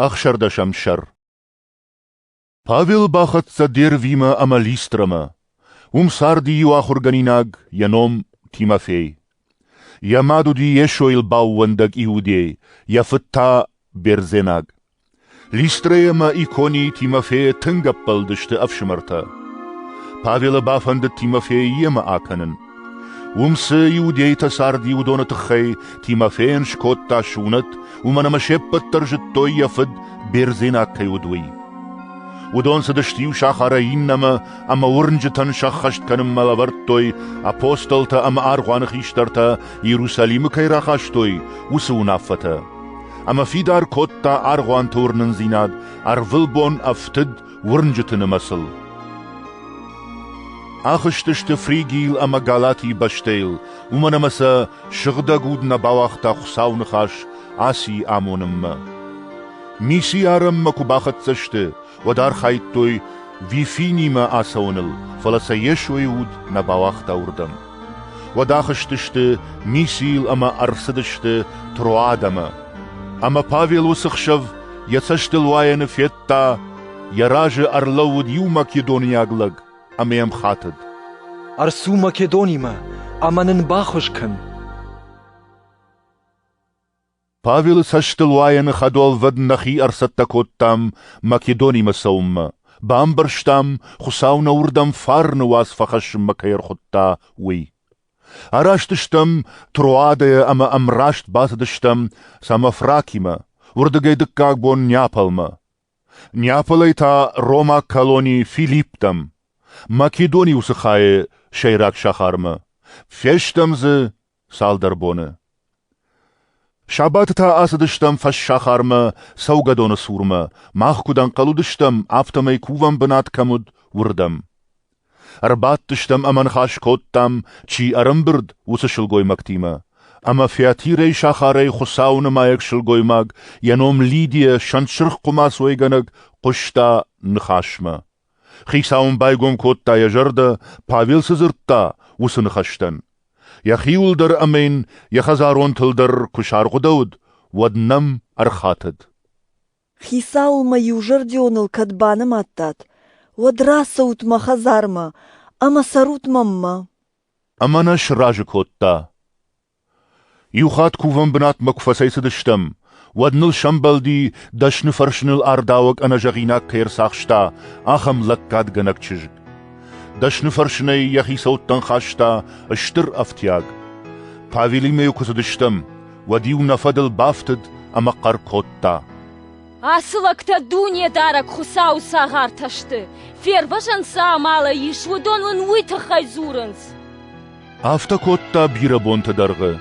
Ӕхсӕрдӕсӕм сӕр Павел бахӕццӕ Дервимӕ ӕмӕ Листрамӕ. Уым царди иу ахуыргӕнинаг, йӕ ном Тимофей. Йӕ мад уыди Йесойыл баууӕндӕг Иудей, йӕ фыд та бердзенаг. Листрӕ ӕмӕ Икони Тимофейы тынг ӕппӕлдысты ӕфсымӕртӕ. Павелы бафӕндыд Тимофейы йемӕ акӕнын, Уым цы иудейтӕ царди, уыдоны тыххӕй Тимофейӕн скодта сунӕт, уымӕн ӕмӕ се ппӕт дӕр зыдтой, йӕ фыд бердзенаг кӕй уыд, уый. Уыдон цыдысты иу сахарӕй иннӕмӕ ӕмӕ уырнджытӕн сӕххӕст кӕнынмӕ лӕвӕрдтой апостолтӕ ӕмӕ аргъуаны хистӕртӕ Иерусалимы кӕй рахастой, уыцы уынаффӕтӕ. Ӕмӕ фидар кодта аргъуанты уырнындзинад ӕрвылбон ӕфтыд уырнджыты нымӕцыл. Ахызтысты Фригийыл ӕмӕ Галатийы бӕстӕйыл, уымӕн ӕмӕ сӕ сыгъдӕг уд нӕ бауагъта Хуыцауы ныхас Асийы амонынмӕ. Мисиарӕнмӕ куы бахӕццӕ сты, уӕд архайдтой Вифинимӕ ацӕуыныл, фӕлӕ сӕ Йесойы уд нӕ бауагъта уырдӕм. Уӕд ахызтысты Мисийыл ӕмӕ ӕрцыдысты Троадӕмӕ. Ӕмӕ Павел уыцы хсӕв йӕ цӕстылуайӕны федта, йӕ разы ӕрлӕууыд иу македонийаг лӕг ӕмӕ йӕм хатыд. «Ӕрцу Македонимӕ ӕмӕ нын бахуыз кӕн!» Павелы цӕстылуайӕны хӕдуӕлвӕд нӕхи ӕрцӕттӕ кодтам Македонимӕ цӕуынмӕ, бамбӕрстам, Хуыцау нӕ уырдӕм фарны уац фӕхӕссынмӕ кӕй ӕрхуыдта, уый. Араст стӕм Троадӕйӕ ӕмӕ ӕмраст бацыдыстӕм Самофракимӕ, уырдыгӕй дыккаг бон Неаполмӕ. Неаполӕй та ромаг колони Филипптӕм, Македони уыцы хайы сӕйраг сахармӕ, фестӕм дзы цалдӕр боны. Сабаты та ацыдыстӕм фӕссахармӕ цӕугӕдоны цурмӕ, мах куыд ӕнхъӕл уыдыстӕм, афтӕмӕй кувӕн бынат кӕм уыд, уырдӕм. Ӕрбадтыстӕм ӕмӕ ныхас кодтам, чи ӕрӕмбырд, уыцы сылгоймӕгтимӕ. Ӕмӕ фӕтирӕй сахарӕй Хуыцауы нымайӕг сылгоймаг, йӕ ном Лидия, сӕнтсырх хъуымацойгӕнӕг, хъуыста ныхасмӕ. Хицау ын байгом кодта йӕ зӕрдӕ, Павел цы дзырдта, уыцы ныхӕстӕн. Йӕхиуыл дӕр ӕмӕ йын йӕ хӕдзаронтыл дӕр куы саргъуыдӕуыд, уӕд нӕм ӕрхатыд. Хицауыл мӕ иузӕрдионыл кӕд банымадтат, уӕд рацӕут мӕ хӕдзармӕ ӕмӕ цӕрут мӕммӕ. Ӕмӕ нӕ сразы кодта. Иу хатт кувӕн бынатмӕ куы фӕцӕйцыдыстӕм, уӕд ныл сӕмбӕлди, дӕсныфӕрсыныл ардауӕг ӕнӕзӕгъинаг кӕй ӕрцахста, ахӕм лӕггадгӕнӕг чызг. Дӕсныфӕрсынӕй йӕ хицӕуттӕн хаста стыр ӕфтиаг. Павелимӕ-иу куы цыдыстӕм, уӕд-иу нӕ фӕдыл бафтыд ӕмӕ хъӕр кодта. Ацы лӕгтӕ дунедарӕг Хуыцауы цагъартӕ сты. Фервӕзӕн цы амалӕй ис, уыдон уын уый тыххӕй дзурынц. Афтӕ кодта бирӕ бонты дӕргъы.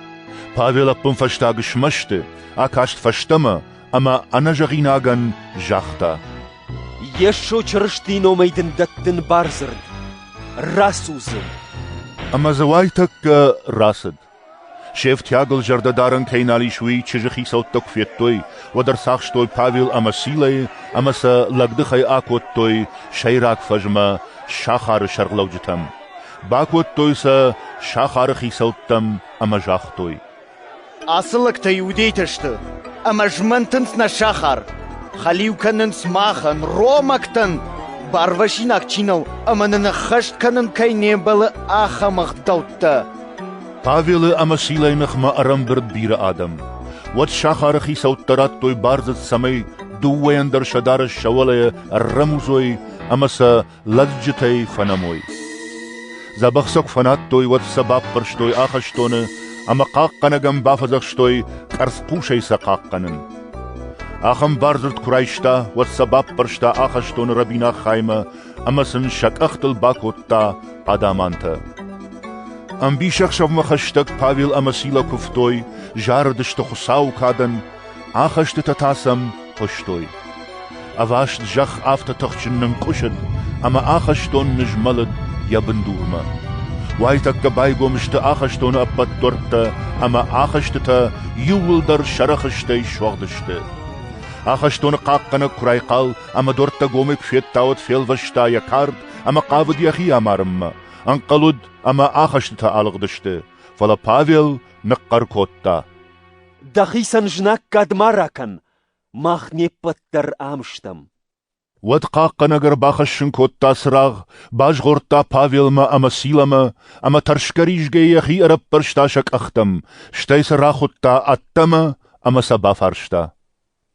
Павел ӕппынфӕстаг смӕсты, акаст фӕстӕмӕ ӕмӕ ӕнӕзӕгъинагӕн загъта. Йесо Чырыстийы номӕй дын дӕттын бардзырд. Рацу дзы. Ӕмӕ дзы уайтӕккӕ рацыд. Се фтиагыл зӕрдӕдарӕн кӕй нал ис, уый чызджы хицӕуттӕ куы федтой, уӕд ӕрцахстой Павел ӕмӕ Силӕйы ӕмӕ сӕ лӕгдыхӕй акодтой сӕйраг фӕзмӕ сахары сӕргълӕуджытӕм. Бакодтой сӕ сахары хицӕуттӕм ӕмӕ загътой: «Ацы лӕгтӕ иудейтӕ сты, ӕмӕ змӕнтынц нӕ сахар, хӕлиу кӕнынц махӕн, ромӕгтӕн, барвасинаг чи нӕу ӕмӕ нын ӕххӕст кӕнын кӕй не мбӕлы, ахӕм ӕгъдӕуттӕ. Павелы ӕмӕ Силӕйы ныхмӕ ӕрӕмбырд бирӕ адӕм. Уӕд сахары хицӕуттӕ радтой бардзырд, цӕмӕй дыууӕйӕн дӕр сӕ дарӕс сӕ уӕлӕйӕ ӕррӕмудзой ӕмӕ сӕ лӕдзджытӕй фӕнӕмой. Дзӕбӕх сӕ куы фӕнадтой, уӕд сӕ баппӕрстой ахӕстоны ӕмӕ хъахъхъӕнӕгӕн бафӕдзӕхстой къӕрцхъусӕй сӕ хъахъхъӕнын. Ахӕм бардзырд куы райста, уӕд сӕ баппӕрста ахӕстоны рӕбинаг хаймӕ ӕмӕ сын сӕ къӕхтыл бакодта адӕмантӕ. Ӕмбисӕхсӕвмӕ хӕстӕг Павел ӕмӕ Силӕ куывтой, зарыдысты Хуыцауы кадӕн, ахӕстытӕ та сӕм хъуыстой. Ӕваст зӕхх афтӕ тыхджын нынкъуысыд, ӕмӕ ахӕстон нызмӕлыд йӕ бындурмӕ. Уайтӕккӕ байгом сты ахӕстоны ӕппӕт дуӕрттӕ, ӕмӕ ахӕстытӕ иууылдӕр сӕрӕхыстӕй суӕгъд сты. Ахӕстоны хъахъхъӕнӕг куы райхъал, ӕмӕ дуӕрттӕ гомӕй куы федта, уӕд фелвӕста йӕ кард ӕмӕ хъавыд йӕхи амарынмӕ. Ӕнхъӕл уыд, ӕмӕ ахӕстытӕ алыгъдысты, фӕлӕ Павел ныхъхъӕр кодта. Дӕхицӕн знаггад ма ракӕн, мах не ппӕт дӕр ам стӕм. Уӕд хъахъхъӕнӕг ӕрбахӕссын кодта цырагъ, базгъордта Павелмӕ ӕмӕ Силамӕ, ӕмӕ тӕрсгӕ-ризгӕ йӕхи ӕрӕппӕрста сӕ къӕхтӕм, стӕй сӕ рахуыдта ӕддӕмӕ ӕмӕ сӕ бафарста.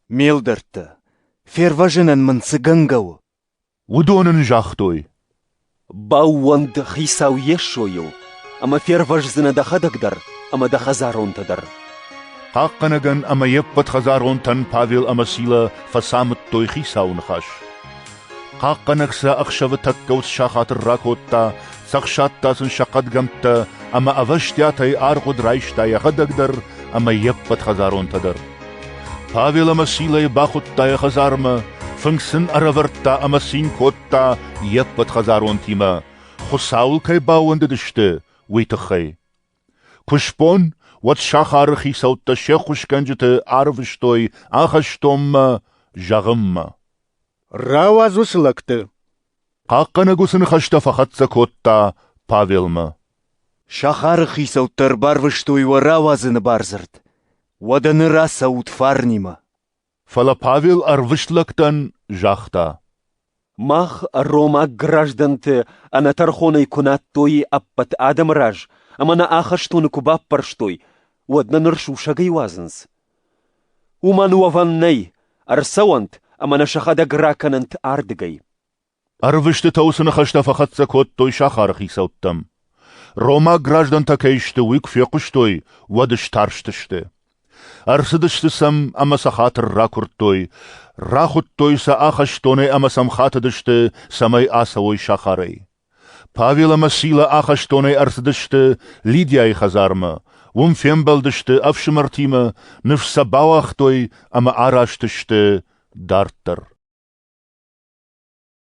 Ме лдӕрттӕ, фервӕзынӕн мын цы гӕнгӕ у? Уыдон ын загътой. Баууӕнд дӕ Хицау Йесойыл, ӕмӕ фервӕздзынӕ дӕхӕдӕг дӕр ӕмӕ дӕ хӕдзаронтӕ дӕр. Хъахъхъӕнӕгӕн ӕмӕ йе ппӕт хӕдзаронтӕн Павел ӕмӕ Силӕ фӕцамыдтой Хицауы ныхас. Хъахъхъӕнӕг сӕ ӕхсӕвы тӕккӕ уыцы сахаты ракодта, цӕхсадта сын сӕ хъӕдгӕмттӕ ӕмӕ ӕвӕстиатӕй аргъуыд райста йӕхӕдӕг дӕр ӕмӕ йе ппӕт хӕдзаронтӕ дӕр. Павел ӕмӕ Силӕйы бахуыдта йӕ хӕдзармӕ, фынг сын ӕрӕвӕрдта ӕмӕ цин кодта йе ппӕт хӕдзаронтимӕ, Хуыцауыл кӕй баууӕндыдысты, уый тыххӕй. Куы сбон, уӕд сахары хицӕуттӕ се ххуысгӕнджыты арвыстой ахӕстонмӕ, зӕгъынмӕ. Рауадз уыцы лӕгты! Хъахъхъӕнӕг уыцы ныхӕстӕ фӕхӕццӕ кодта Павелмӕ. Сахары хицӕуттӕ ӕрбарвыстой уӕ рауадзыны бардзырд. Уӕдӕ ныр ацӕут фарнимӕ. Фӕлӕ Павел ӕрвыст лӕгтӕн загъта. Мах, ромаг граждӕнты, ӕнӕтӕрхонӕй куы надтой ӕппӕт адӕмы раз ӕмӕ нӕ ахӕстоны куы баппӕрстой, уӕд нӕ ныр сусӕгӕй уадзынц. Уымӕн уӕвӕн нӕй, ӕрцӕуӕнт ӕмӕ нӕ сӕхӕдӕг ракӕнӕнт ардыгӕй. Ӕрвыстытӕ уыцы ныхӕстӕ фӕхӕццӕ кодтой сахары хицӕуттӕм. Ромаг граждӕнтӕ кӕй сты, уый куы фехъуыстой, уӕд старстысты. Ӕрцыдысты сӕм ӕмӕ сӕ хатыр ракуырдтой, рахуыдтой сӕ ахӕстонӕй ӕмӕ сӕм хатыдысты, цӕмӕй ацӕуой сахарӕй. Павел ӕмӕ Силӕ ахӕстонӕй ӕрцыдысты Лидийайы хӕдзармӕ, уым фембӕлдысты ӕфсымӕртимӕ, ныфс сӕ бауагътой ӕмӕ араст сты дарддӕр.